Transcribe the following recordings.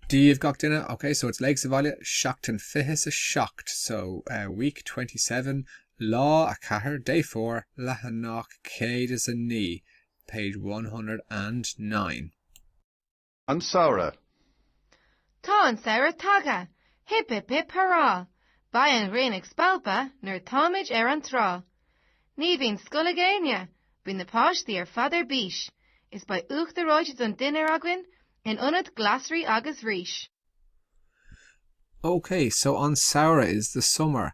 díobh gach duine, ok so it's Léigh sa Bhaile, seachtain fiche's a seacht so week twenty seven lá a ceathair day four leathanach céad is a naoi page one hundred and nine. An Samhradh. Tá an samhradh tagtha! Hip hip hip hurrah! Beidh an ghrian ag spalpadh nuair atáimid ar an trá. Ní bhíonn scoil ag éinne, bíonn na páistí ar fad ar bís is beidh uachtar reoite don dinnéar againn in ionad glasraí agus rís. OK, so an samhradh is the summer.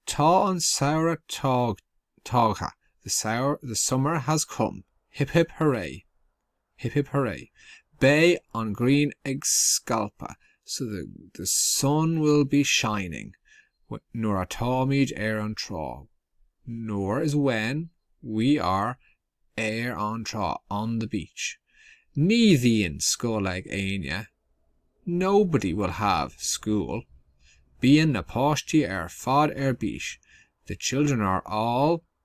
Tá an samhradh tagtha, the summer has come. Hip hip hooray! Hip hip hurray. Beidh an ghrian ag spalpadh so the, the sun will be shining nuair atáimid ar an trá nuair is when we are ar an trá on the beach. Ní bhíonn scoil ag éinne Nobody will have school. Bíonn na páistí ar fad ar bís The children are all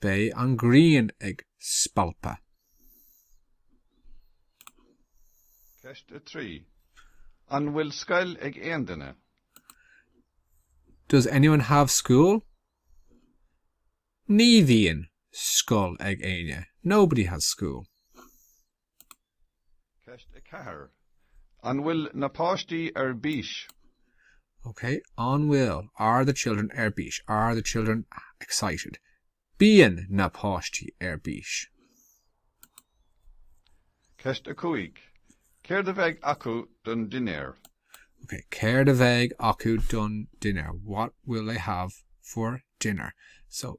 Beidh an ghrian ag spalpadh. Ceist 3 An bhfuil scoil ag aon duine? Does anyone have school? Ní bhíonn scoil ag éinne. Nobody has school. Ceist 4 An bhfuil na páistí ar bís? OK. An bhfuil Are the children ar bís? Are the children excited? Bíonn na páistí ar bís. Ceist 5 Céard a bheidh acu don dinnéar? OK. Céard a bheidh acu don dinnéar? What will they have for dinner? So